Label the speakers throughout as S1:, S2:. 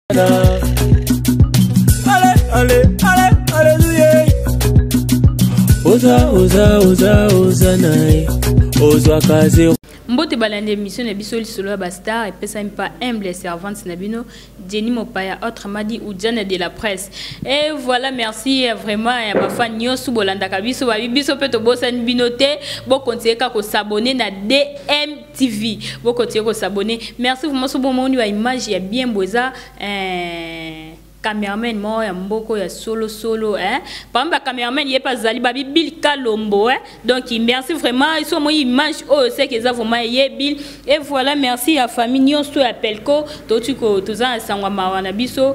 S1: Ale, ale, ale, aleluya. Oza, oza, oza, oza na ye. Ozwaka zero. mbote balandi
S2: émission na biso lisolo ya bastar epesami pa humble servante na bino jenny mopaya autrement dit ujana de la presse et voilà merci euh, vraiment ya bafan nyonso bolandaka biso babi biso mpe tobosani bino te bokontinue kaka kosabone na dm TV boko tiye ko s'abonner merci vraiment so bomoni ba image ya bien boza eh cameraman moko ya mboko ya solo solo hein par exemple cameraman ye pa zali ba bill kalombo hein donc merci vraiment iso moi image oh c'est que ça vraiment ye bill et voilà merci à famille nyonso ya pelko to tu ko toza sangwa mawa na biso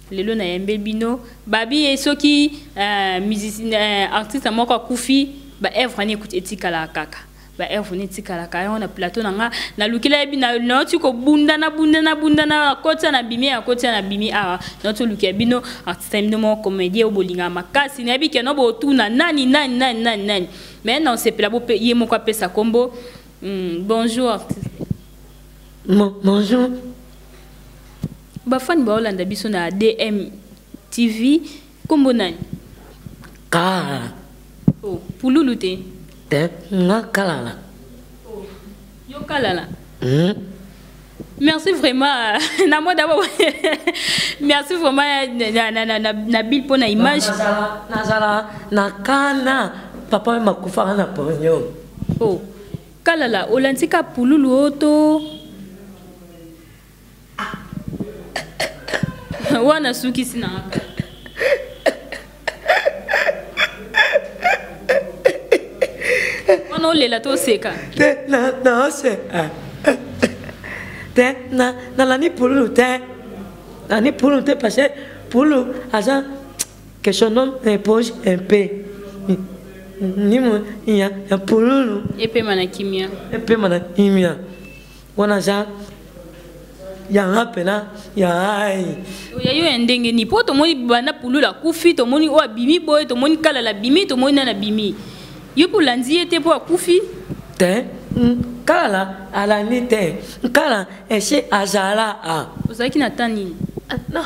S2: lelo na yembe bino babi ye soki uh, artiste moko akufi ba œuvre ni etikala kaka ba œuvre ni etikala kaka yango na plateau na nga na lukila yebi na nauti kobunda na bunda na bunda na koti na bimi ya koti na bimi awa nauti olukia bino artiste bino moko comédien oyo bolinga makasi nayebi ke no botuna nani nani nani nani nani mais na osepela bo ye moko apesa kombo mm, bonjour artiste bon,
S3: bonjour
S2: Ba fan ba olanda biso na DM TV kombo nani? Kalala.
S3: Oh,
S2: pululu te. Te, nga
S3: kalala.
S2: Oh, yo kalala. Hmm. Merci vraiment. na moi d'abord. Merci vraiment na na na na Bill pour na image. Nazala nazala
S3: na kana papa makufa na ponyo. Oh.
S2: Kalala olantika pululu oto wana sukisi na nga kala wana olela to oseka te na na ose
S3: ah. te na na lani pululu te lani pululu te parce que pululu aza que son homme repose un peu nimo ya ya pululu epema na kimia
S2: epema na kimia
S3: wana za yanga mpena ya ai oya yo ya ndenge
S2: nini mpo tomoni banda pulula akufi tomoni oyo abimi boye tomoni kalala abimi tomoni nani abimi yo mpo olandi ye te mpo akufi te
S3: nkala alandi te nkala ese azala a ozalaki na ta
S2: nini ah,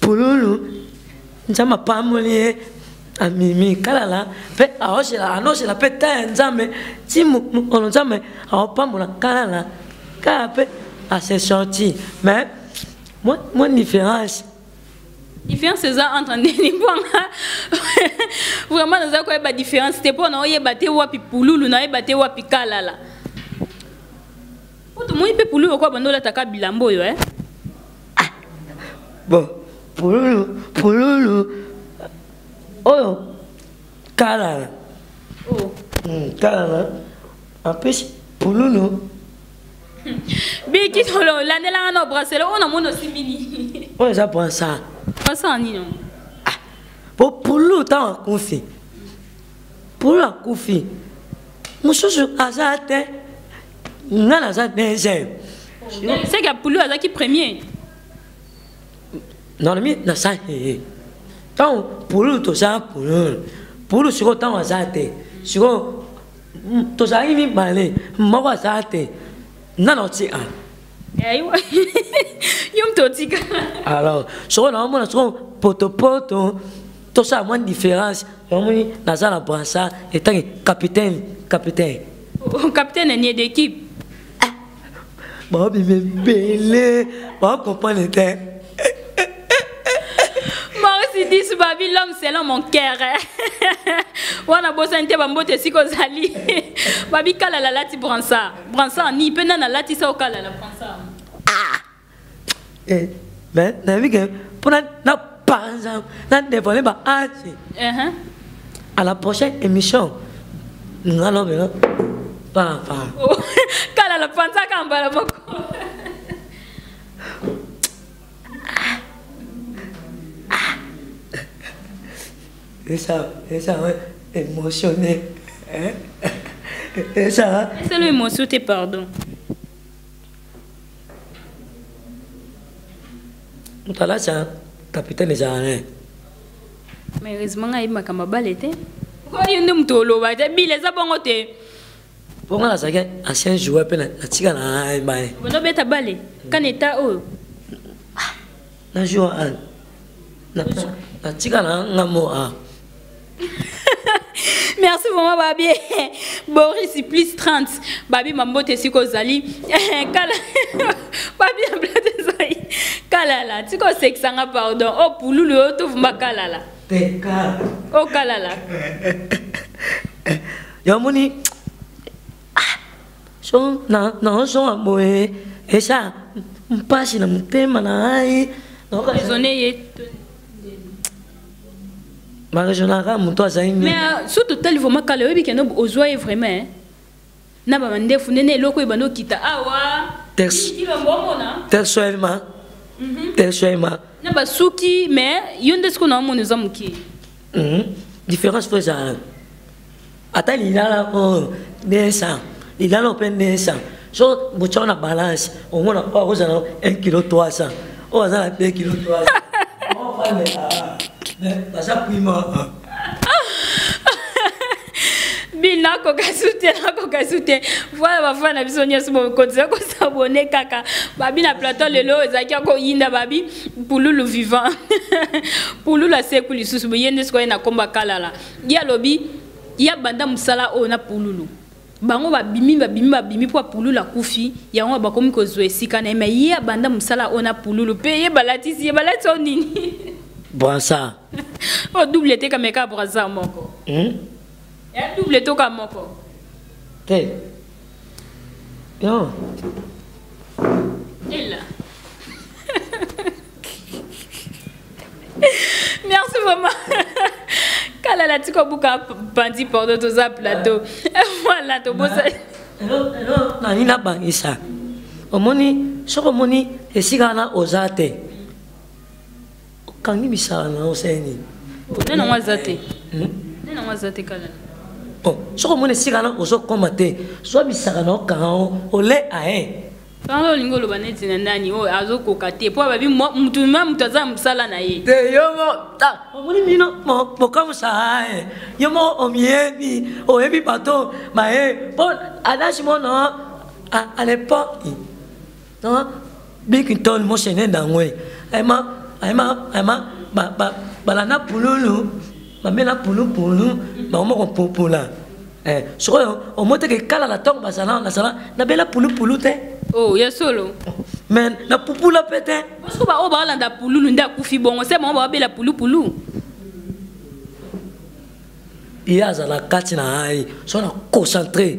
S3: Pululu nzambe apamboli ye amimi kalala mpe aoshela anoshela mpe ta ya nzambe ti mokolo nzambe aopambola kalala kala mpe ase sorti mais mwa différence différence
S2: eza entre ndeni bwanga vraiment naza koyeba différence te mpo naoyeba te wapi pululu nayeba te wapi kalala mpo tomoni mpe pululu okoya banda olataka bilambo oyo e eh?
S3: ah bon pululu pululu oyo kalana oh. hmm, kalana en plus pululu
S2: biki tolo landelanga na brasele oyo namoni osimbi nini oyo eza brasa
S3: brasa nini ah
S2: po
S3: pululu ntango akufi polo akufi mosusu aza te nga naza deuxième seke ya
S2: pulu azalaki premier
S3: nalobi naza hee ntango pulu toza pulu pulu sikoyo ntango aza te sikoyo tozalaki mibale moko aza te nga na otika
S2: yo mtu otika alors
S3: sikoyo naomona sikoyo potopoto tosala mwa différence omoni naza na bransa etangi capitaine capitaine
S2: oh, capitaine anie d'équipe
S3: ah. babima ebele bakompane te
S2: maurice dis babi l'homme selon mon cœur wana bosani te bambote esika ozali babi kalala lati bransa bransa ni mpe nani alatisa okalala bransa eh, mais
S3: nayebi ke mpo na panza na devole ba age uh-huh. à la prochaine émission nga lobela papa oh,
S2: kala la panza ka mbala moko
S3: esa esa émotionné hein esa esa le émotion te
S2: pardon
S3: mutalasa capitaine ezala ne
S2: malheureusement ngai makambo abale te oyo nde moto oloba te bile eza bongo te mpo
S3: ngai nazalaki ancien joueur mpe natika na ebale bonobeta bale
S2: kana eta oyo
S3: na jour natika na ngambo a
S2: merci vraiment babie boris plus 30 babi mambote esika ozali kala babi ya blate ezali kalala tika osekisa nga pardon o oh, pululu oyo tovumba kalala o oh, kalala
S3: yamoni ah, so na na so boye esha mpasi na motema na ngai raisonne ye barejonaka moto azali nini
S2: mais euh, so totali vraimen kala oyebi kende ozwa ye vraimen eh? na bamandefu nene eloko oyo banda okita awa tersoelma
S3: tersoelma
S2: na basuki mais yo nde sikoyo na omona eza moke mhm.
S3: différence fo ezala ata lilala oyo nesa lilala oyo mpe nesa so botya na balance omona oyo oh, akozala 1 kilo 300 oyo aza na 2 kilo 300 baza prima
S2: bino akoka su te akoka su te voilà bafana na biso nyonso bokonzela kosabone kaka babi na plateau lelo oyo ezalaki akoyinda babi pululu vivant pululu aseku lisusu boye nde sikoyo na komba kalala ye alobi ye abanda mosala oyo na pululu bango babimi babimi babimi mpo apululu akufi yango bakomi kozwa esika na ye me ye abanda mosala oyo na pululu mpe ye balatisi ye balatisi oyo nini brasa
S3: oyo double
S2: te kameka brasa moko hmm? ya double toka moko te
S3: non
S2: ela merci vraiment kala la tiko buka bandi pardon toza plateau voilà tobosa
S3: nani nabangisa omoni soki omoni esika wana oza te okangi misala na yo seni nde nango aza te hmm? nde nango aza
S2: te kala bon soki
S3: omoni esika wana ozokoma te zwa misaka na okanga yango ole aye Tango olingi oloba
S2: neti na nani oyo azokoka te mpo ababi motu ma moto aza mosala na ye te yo mo
S3: omoni bino bokamwisa ye yo mo omiyebi oyebi bato baye mpo adage mono à l'époque bikintol mosene nango ayema ayema ayema balanda pululu bamela pulupulu bakoma kopupula eh, sikoyo omoteke kala na ntongo bazala nazala nabela pulupulu te oh, ya solo
S2: me
S3: napupula mpe te parceke baoyo baolanda
S2: pululu nde akufi bongo se bango baobela pulupulu
S3: ye azala kati na ngai so na concentre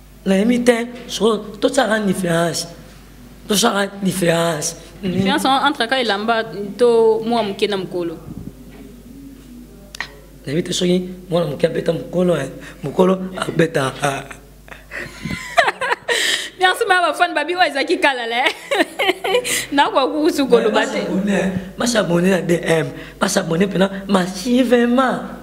S3: nayebi te soko tosalaka différence tosalaka différence
S2: différence entre ka elamba to mwa moke na mokolo
S3: nayebi te soki mwana moke abeta mokolo eh, mokolo abeta ah.
S2: merci ma bafane babi oyo ezalaki kala le nakoka kukusu koloba te basabone
S3: na dm basabone mpena massivement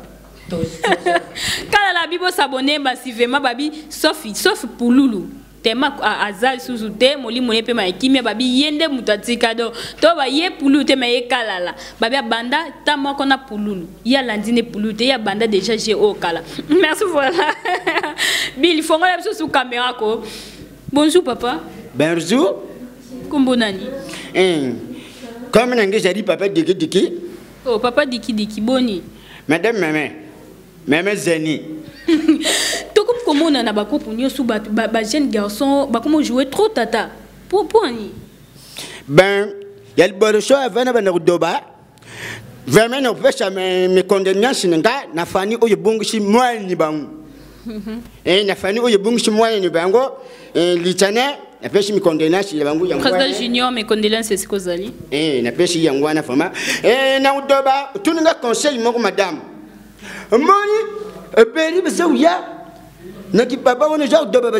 S2: kala la bibo s'abonner basi vraiment babi sauf sauf pululu tema aza lisusu te molimo ye mpe ma kimia babi ye nde moto atika do to baye pululu te ma ye kalala babi abanda ta moko na pululu ye alandi nde pululu te ye abanda déjà je oyo oh, kala merci voilà bili fongola biso su kamera ko bonjour papa bonjour
S4: kombo nani
S2: eh,
S4: comme nange ezali papa dikidiki Oh papa
S2: diki diki boni. Madame meme.
S4: Meme zeni.
S2: Tokomi komona na bakopo nyosu ba, ba, ba jeune garçon bakomi jouer trop tata. Pour pour ni. Ben
S4: ya liboso avana bana kudoba. Vraiment na opesa me me condemnation nga na fani oyo bongisi mwani bangu. eh, na fani oyo ebungisi mwana ne bango eh, litana napesi mikondolenasi ya bango président junior mikondolenasi
S2: esika ozali eh, napesi yango
S4: wana vraimen eh, na udoba otuni nga conseil moko madame omoni ebeli baza koya na kipapa wana eza kodoba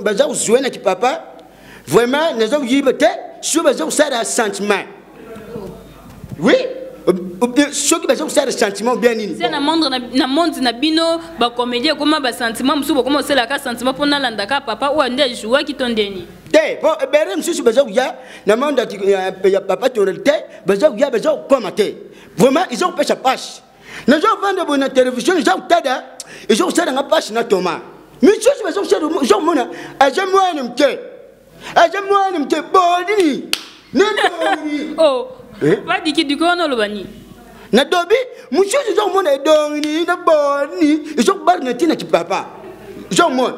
S4: baza kozwa na kipapa vraiment naza koyiba te soki baza kosala ya sentiment oui soki baza kosala sentiment bien nini na
S2: monde na bino bacomédie ekoma basentiment mosusu bokoma kosalaka sentiment mpo nalandaka papa oyo nde ajouaki to ndeni te mpo ebele
S4: mosusu baza koya na monde ya papa tonel te baza koya baza kokoma te vraiment eza kopesa pasi nazovanda boye na televizio eza kotada eza kosala nga mpasi na toma misusu baza kosala oza komona aza mwana moke aza mwana moke bolini nini
S2: oh, eh? badiki diko wana oloba nini nadobi
S4: mosusu eza komona edongini na boni eza kobala na ntina kipapa eza komona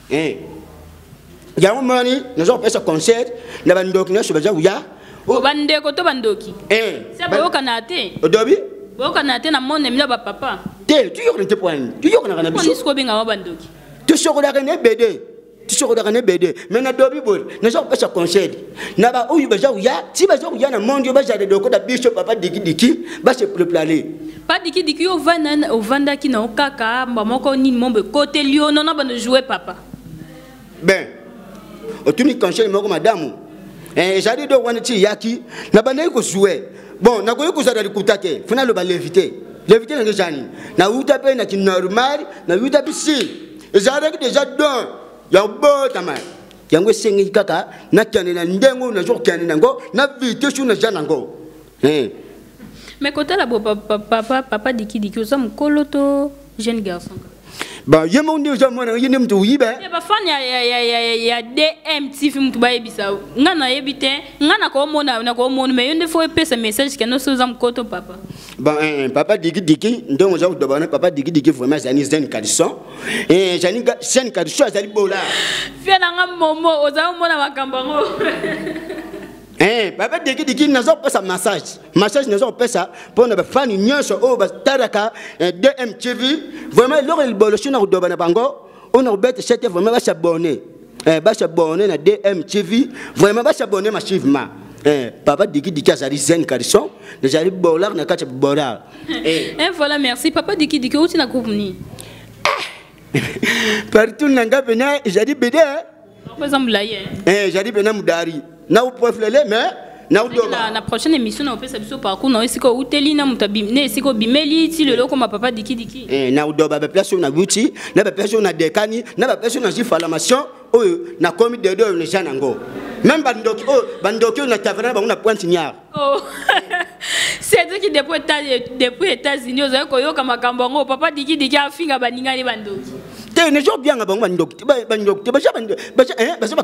S4: eh. yango moni naza kopesa concert na bandoki nyonso baza koya oh. bandeko
S2: to bandoki eh. se boyokanaka te odobi
S4: boyokanaka te na
S2: monde mino bapapa te tuyokana te
S4: poani tuyokanaka na biso kobengama bandoki
S2: tusokolaka na
S4: ebede tusokolaka na ebede me nadobi boye naza kopesa concert na baoyo baza koya ti baza koya na monde oyo bazala eloko na biso papa dikidiki base preplane pa dikidiki yo
S2: ovanda ovandaki na yo kaka mba moko nini mombo ekoteli yo nona bano joue papa ben
S4: otuni conseil moko madamu eh, ezali do wana ti eyaki nabandaki kojoue bon nakoki kozala likuta te fona aloba levite levite nange ezani nauta mpe na kinormal nauta mpe si ezalaki deja don ya obotama yango esengeli kaka nakende na ndenge oyo nazo kokende na yango na vitese oyo naza na yango eh.
S2: mais kotala bo papa, papa, papa dikidiki oza mokolo to jeune garçon ba ye
S4: moko nde oza mwana ye nde moto oyiba eh? eh, bafani
S2: ya dmtv moto bayebisa ngai nayebi te ngai nakomona nakomona mai yo nde fo epesa message kende osi oza mokoto papa ba eh, papa
S4: dikidiki ndenge oza kodoba na papa dikidiki vraiment ezali zene kalison Eh, Jeanne Kaducho azali bola. Fia na nga
S2: momo ozali mona makambo yango. Eh,
S4: baba deki deki nazo pesa massage. Massage nazo pesa pona ba fan nyonso oyo ba taraka eh, DMTV. Vraiment loko libolo shina kudoba na bango. Ona kubete chete vraiment ba s'abonner. eh, ba s'abonner na DM TV vraiment ba s'abonner massivement Eh, papa diki diki azali zen carison nazali bolar na kati ya bolar eh. eh, voilà
S2: merci papa diki diki outi na groupe nini
S4: partout na nga pena ezali bede eza molai
S2: ezali pena
S4: modari na upreflele mais na udoba na prochaine émission na opesa
S2: biso parcours na esika uteli na muta na esika bimeli ti lelo koma papa diki diki eh na udoba ba place
S4: na buti na ba place na dekani na ba place na formation oyo na komi de do ne janango même ba ndoki oyo ba ndoki na taverne bango na pointe niar Oh.
S2: cedriki depuis depuis états-unis ozali koyoka makambo yango papa dikidiki afinga baningani bandoki te nezo obianga
S4: bango bandoki te bandoki te baza baza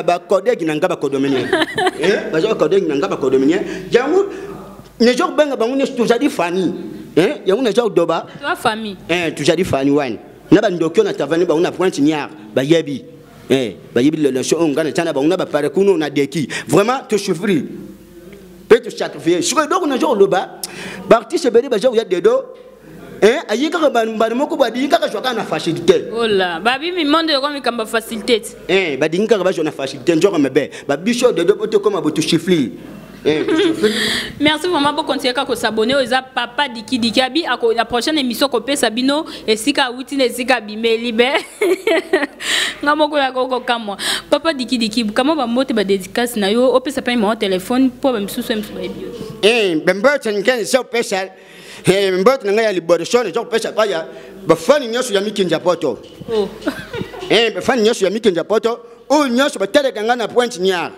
S4: bakodegi na nga bakodominien baza bakodegi na nga bakodominien yango nezo obenga bango nyonso tozali fani yango naza odoba tozali
S2: fani
S4: wana na bandoki oyo na tavani bango na pointe niar bayebi eh bayibi la nation oyo ngai natya na bango na bapare kuna oyo nadeki vraiment tosouffrir mpe tosacrifie sikoyo eloko naza koloba baartiste ebele baza koya dedo eh, ayi kaka mbala moko badingi kaka zwaka na facilité ola babimi
S2: monde yoko mikambo ya facilité eh, badingi kaka bazwa
S4: na facilité nzoka mabe babiso dedo mpo tokoma botoshiflir Eh,
S2: merci vraiment bokontinue kaka kosabone oyo eza papa dikidiki abi na prochaine émission kopesa bino esika awuti na esika abimeli be nga moko ya kokokamwa papa dikidiki kama bambote badedikasi na yo opesa mpe mao telefone mpo bamisusu ya misusu bayebi yo eh, bambote nkeni
S4: se opesa eh, mbote na ngai ya liboso naza kopesa epai ya
S2: bafani
S4: nyonso ya mikinzi ya poto oh. bafani nyonso ya mikinzi ya poto oyo nyonso bateleka ngai na pointe niare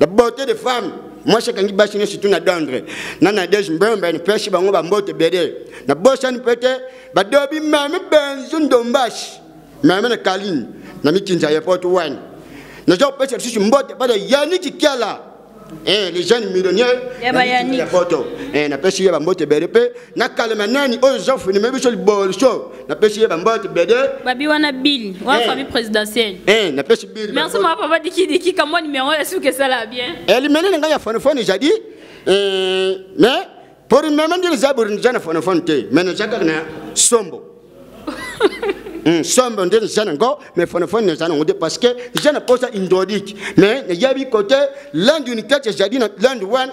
S4: la beauté des femmes mwasi akangi basi nyonso tu na dondre na nadege mbembe nipesi bango bambote ebele nabosani mpe te badobi meme benzu ndombasi meme na kalini na mikinza ya poto wana naza kopesa lisusu mbote bana yani kikiala Eh, les jeunes millionnaires ya poto eh, napesi ye bambote ebele mpe nakalema nani oyo zofuni mebiso liboliso napesi ye bambote bede babi wana bili
S2: wana eh. famille présidentielle eh, napesi bili
S4: merci mwa papa dikidiki
S2: kamwa nimero ya suki esala bien eh, limene na ngai ya
S4: fonofone ezali mais mpo limeme ndili zaburi nija na fonofone te mais naza kaka na sombo hmm, sombo nde naza nango mais fonofone naza nango te parce que naza na posa indodike mais nayebi kote lande unitete ezali na lande wana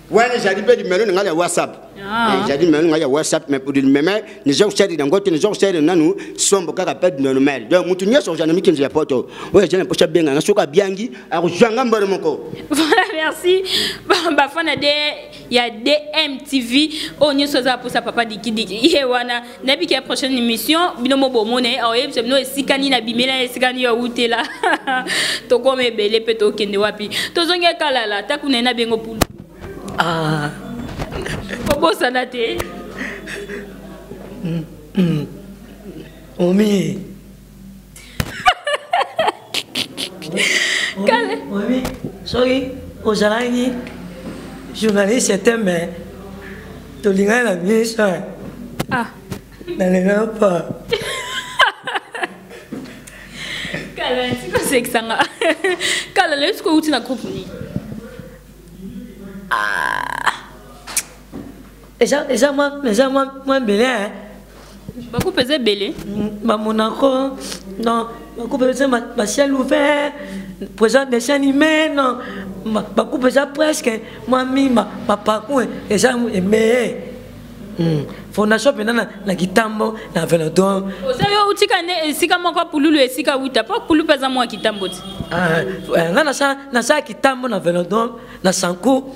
S2: wana ezali
S4: mpe limelo na ngai ya whatsapp ah. eh, ezali limelo na ngai ya whatsapp mais pour limeme niza kosali na ngote niza kosali nanu sombo kaka mpe normal donc moto nyonso ozala na mikinzo ya poto oyo ezali na mposa abenga nga soki abyangi akozwa nga mbolo moko voilà merci
S2: bafana de ya dmtv oyo nyonso aza mposa papa dikidiki ye wana nayebi ke prochaine émission bino mo bomona ye aoyebisa bino esika nini abimela ye esika nini awutela tokoma ebele mpe tokende wapi tozongi ekalala ntaku na ye na bengo pulu ah. kobosana te mm,
S3: mm. omi
S2: kale soki
S3: ozalaki journaliste ya tembe tolingani na biso ah.
S2: na lelo
S3: po
S2: kala sikosekisa nga kala lelo sikoyo uti na groupe nini ah.
S3: eza eza mwa eza mwa mwa mbele eh.
S2: bakupe eza ebele bamonako
S3: non bakupe eza basiel ouvert présent dessin animé non bakupe eza presque mwa mima bapaku eh, eza emeye hmm. fondation mpenza na, na kitambo na velodon oza yo otika nde
S2: esika moko pululu esika wuta mpo pulu mpe aza mwa kitambo ti ah, eh, nga
S3: nasala kitambo na velodon na sanku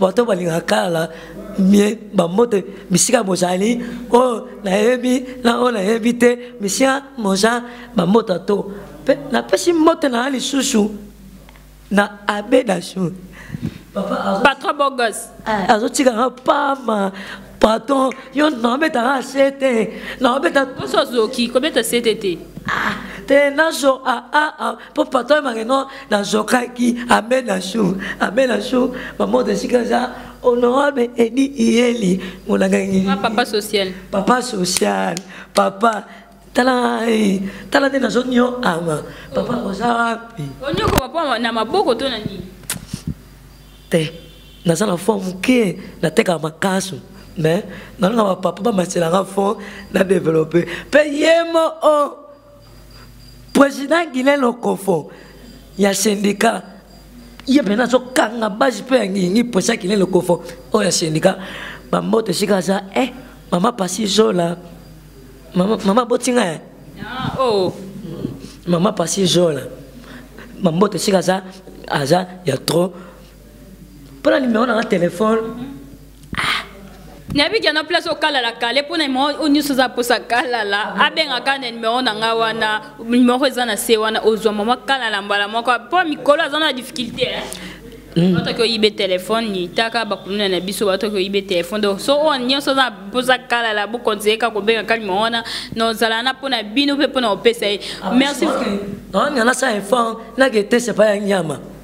S3: bato balingaka kala mie bambote bisika bozali oyo nayebi na oyo nayebi te misika moza bambote to mpe napesi mbote na ya lisusu na abe dasur patron bogos
S2: eh. azotika nga
S3: pama patron yo naobetaka se te naobeta oso azoki kobeta
S2: sete te ah, te
S3: nazo aa ah, ah, mpo patron ebake no nazokaki amena jour amena jour bamoto esika eza honorable edi iyeli monangangi ah, papa social
S2: papa social papa tala eh, tala nde nazonio ama papa oh. oza wapi onyoko papa na maboko to na nini
S3: te naza na fo moke natekaka makasu mais nalonga bapapa bamaselanga fo na developpe mpe yemo o oh. président guilin lokofo ya syndicat ye mpena azokanga base mpe ya ngingi président guilin lokofo oyo ya syndicat bamboto esika aza e eh, mama pasi zola mama, mama botinga e ah, oh. mama pasi zola bamboto esika aza aza ya trop mpo na nimero nanga telefone
S2: nayebi ke na place okalala kale mpo na nimero oyo nyonso oza mposa kalala abengaka na nimero na ngai wana nimero eza na se wana ozwa mama kalala mbala moko mpo mikolo aza na difficulté eh? Mm. bato oki oyibe telefone litaka bakuluna na biso bato oki oyibe telefone donc so oyo nyonso oza mpoza kalala bokonzeye kaka kobenga kali mo wana na ozala na mpo na bino mpe mpo na kopesa ye ah, merci nani
S3: anasala effort nake etese epai ya nyama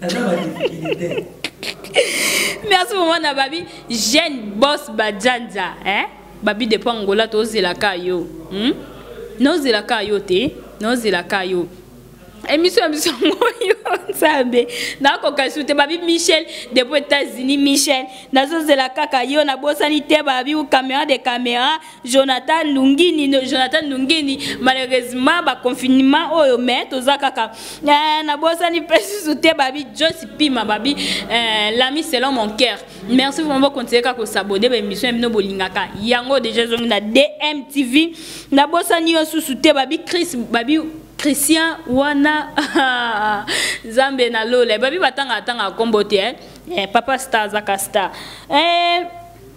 S3: naza ba difficulté
S2: merci maman na babi jeune boss bajanza hein babi depuis angola tozelaka yo hmm? nozelaka yo te nozelaka yo émission ya biso yango yo nzambe nakoka su te babi michel depuis états-unis michel nazozela kaka yo nabosani te babi ou caméra de caméra Jonathan Lungini no, Jonathan Lungini malheureusement ba confinement oyo mais toza kaka eh, na bosani pesi soute babi Joyce Pima babi eh, l'ami selon mon cœur merci vraiment continuer ka ko s'abonner ba émission bino bolingaka yango déjà zongi na DMTV na bosani yo susu te babi Chris babi Christian wana Zambe na lola babi batanga atanga kombo te eh, eh papa star zaka star eh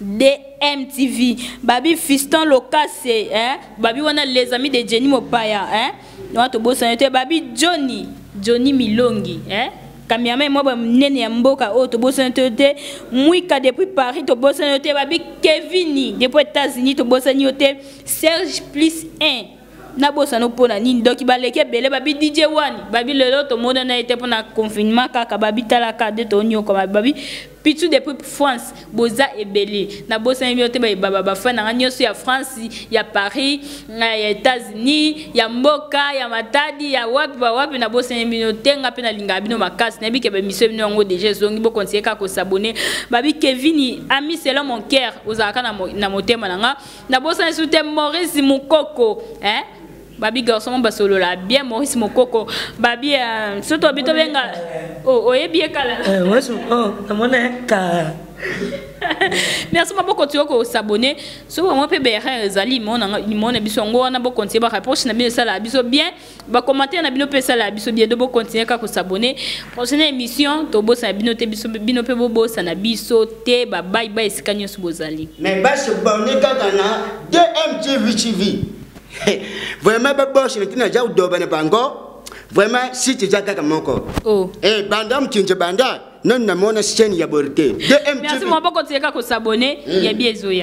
S2: DMTV babi Fiston Lokase hein babi wana les amis de Jenny Mopaya hein wana tobosana te babi Johnny Johnny Milongi hein kamiame mwa banene ya mboka oyo tobosani to te mwika depuis paris tobosani yo te babi kevini depuis états-unis tobosani yo te serge plus 1 nabosana mpo na nini doki baleki ebele babi dj wani babi lelo tomona na ye te mpo na confinement kaka babi talaka nde tonyokwama babi pitu depuis france boza ebele nabosani bino te bayebaba bafani nanga nyonso ya france ya paris eh, ya états-unis ya mboka ya matadi ya wapi bawapi nabosani bino te nga mpe nalingaka bino makasi nayebi ke bamisio bino yango deja ezongi bokontinye kaka kosabone babi kevini ami selon mon cœur ozalaka na motema na nga nabosani su te maurice mokoko eh? babi garçon moko basolola bien maurice mokoko babi uh, soki tobi tobenga oh, oyebi ye kala eh, oh,
S3: namona ye kala
S2: merci ma boko tiyo kosabone soki bango mpe berin ezali limona biso yango wana bokontinye bareproche na bino esala biso bien ba commentaire na bino pe sala biso bien dobo continuer ka ko s'abonner prochaine émission to bosa bino te biso bino pe bobosa na biso te ba bye bye esika nyoso bozali mais ba se bonne
S4: kaka na DMTV TV vraiment ba boss na tina ja udoba na bango vraiment si tu ja kaka moko oh eh banda mkinje banda non na
S2: mona
S4: chaîne
S2: ya
S4: borte
S2: DMTV
S4: merci
S2: maboko
S4: tieka
S2: ko s'abonner
S4: hmm.
S2: ya
S4: biezo
S2: ya